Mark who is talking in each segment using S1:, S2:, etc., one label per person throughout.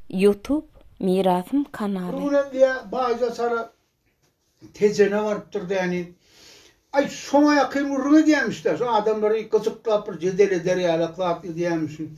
S1: Youtube mirasym kanaly. Ol hem diýýä baýda
S2: sara Tejene barypdyr däni. Aý şoňa ýakyn gürrüň edýämişdä, şu adamlary gyjyklap bir jedel eder ýalak zat edýämişin.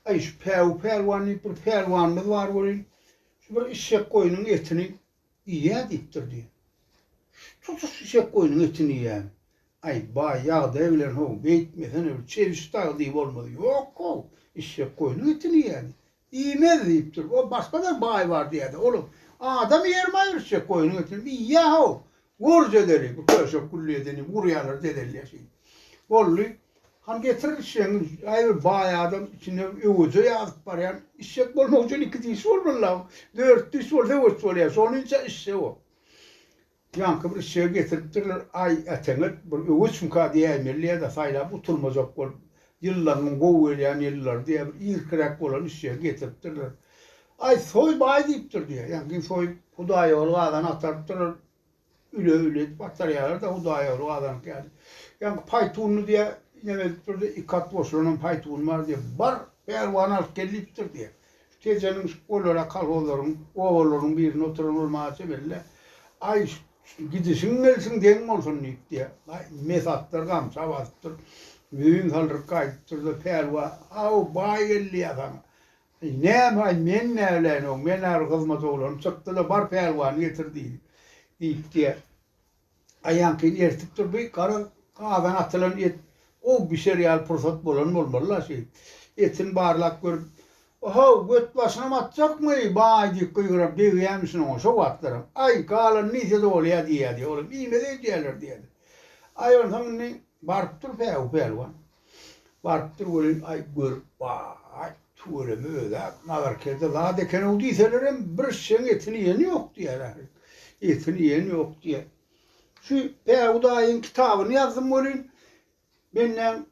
S2: Aý şu Päwü pälwan diýip bir pälwanymyz bar welin, şu bir işşek goýnuň etini Iýýä diýipdir diý. Tutuş işek goýnuň etini iýýän. Aý, baý ýagdaý bilen how, beýtmesene bir çebiş dagy diý bolmaz. Ýok how, işek goýnuň etini iýýä diý. Iýmez diýipdir. O başga-da baý bar diýýä-de, olam, Adam iýermaý bir işek goýnuň etini iýýä how, gör jedeli, bu köşek gülli edeni gurýarlar dedelýär şeýdip. Boldy, Hany getir işegiňi, aý bir baý adam içine öweje ýazyp barýan, işek bolmak üçin iki diş bolmalyda, dört diş bolsa öweç bolýar, şonuňça işek o. Ýaňky bir işegi getiripdirler, aý äteňet bir öweçmika diýäýmelidä saýlap gutulmajak bolup, ýyllarynyň gowy gelýän ýyllary diýä bir irkiräk bolan işegi getiripdirler. Aý soý baý diýipdir diýä, ýaňky soýup hudaýýoly gazan atarypdyrlar, Üle-üle edip agtarýarlar-da, hudaýýaglyk azanyňky ýaly. Ýaňky paýtunly diýýä, neme edip durdy, iki at goşularam paýtuny bar diýýä. Bar, pälwany alyp gel diýipdir diýýä. Şu tejeniň şu olara kolhozlaryň, obalaryň birinde oturan ol maňa çemeli-de, Aý, gidişiň gelsin geň bolsun diýip diýýä. Aý, mes atlar gamça basypdyr. Müýn saldyryp gaýdypdyr-da, pälwan, Haw, baý geldi ýa saňa. Eý, näme-aý, men näleýin-ow, men ar hyzmat oglany çykdy-da, bar pälwany getir diýdi, diýip diýýär. Aýaňkyny eritip dur, bu gara gazana atylan et gowy bişer ýaly pursat bolan bolmaly-la şeýdip. Etini barlap görüp, O-how, götbaşynam atjakmy, baý, diýip gygyran degýämişin oňa şo wagtlaram. Aý, galany niýse-de bolýa diýýär diýýär, olam iýmez öýdýärler diýýär. Aý, onsoň indi baryp dur-pä, u pälwan. Barypdyr welin, aý, görüp baý, tüweleme öz-ä nazarkerde zat eken-ow diýselerem, bir şişeň etini iýeni ýok diýýär ähli. Etini iýen ýok diýýär. Şu Päwüdaýyň kitabyny ýazdym welin, menden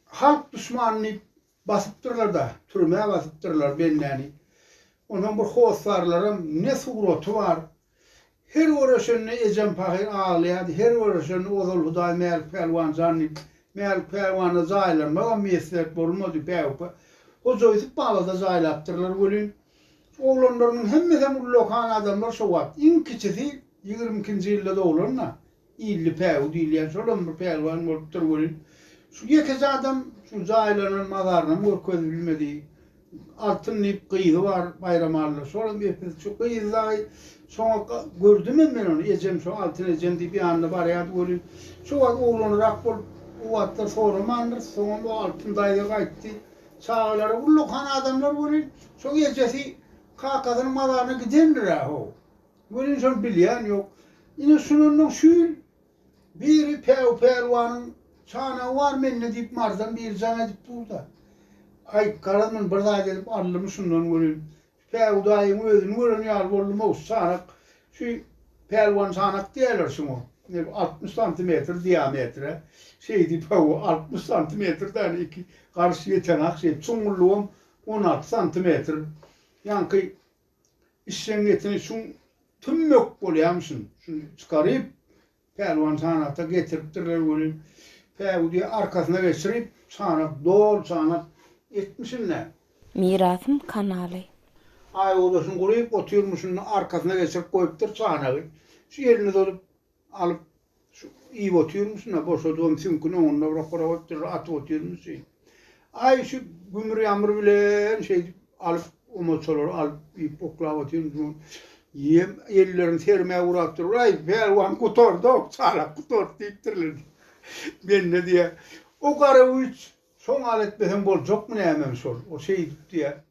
S2: halk duşmany diýip Basypdyrlar-da, türmä basypdyrlar bendäni. Onsoň bir hossarlaram ne suraty bar. Her görüşende ejem pahyr aglaýardy, her görüşende ozal Hudaý Mälik pälwan jan diýip, Mälik pälwana jaýlanmagam miýesseet bolmady, bäupa. Hoja Ýusup baba-da jaýlapdyrlar welin, oglanlarynyň hemmesem ullakan adamlar şo wagt. Iň kiçisi ýigrimi ikinji ýylda doglan-da, Illi päwi diýilýän şolam bir pälwan bolupdyr welin, şu ýekeje adam şu jaýlanan mazarynam görkezip bilmedi. Altyn diýip gyzy bar Baýramalla, şolam epis şu gyzy dagy şoňa gördümem men ony, ejem şo Altyn ejem diýip ýanyna barýardy welin, şo wagt oglanrak bolup, o wagtlar soramandyrys, soňam o Altyn daýza gaýtdy. Çagalary ullakan adamlar welin, şoň ejesi kakasynyň mazaryna gidendir-ä, ho. Welin şony bilýän ýok. Ine şunundan şu ýyl biri Päw pälwanyň çanagy bar mende diýip marzan biri jaň edip dur-da. Aý, garaz men bir zat edip aldymy şundan welin, Päw daýyň özüni gören ýaly boldum, owsy çanak, şu pälwan çanak diýerler şuňa, neb altmyş santimetr diametre, şeýdi Päw, altmyş santimetr däl, iki garş ýetenak şeýdi, çuňňurlygam on alty santimetr. Ýaňky Işjeňňetini şuň tümmük bolýamyşyn, şuny çykaryp, Pälwan çanakda getiripdirler welin, päwüdi arkasyna geçirip, çanak dol çanak etmişin-le. Mirasym
S1: kanaly. Aýodaşyny
S2: guryp otyrmyşyn, arkasyna geçirip goýupdyr çanagy. Şu elini uzadyp, Alyp şu iýip otyrmyşyn-a, boşadybam süňküni oňuna bir okara goýup durra atyp otyrmyşyn. Aý şu gümür-ýamyr bilen şeýdip alyp omaçalary alyp iýip oklap otyrmyşyn. Ýem ellerim sermä gurap dur. Aý pälwan gutardok, çalak gutart diýipdirler. Mende diýýär, o gara güýç şoňa al etmeseň boljakmy näme şol. O şeýdip diýýär.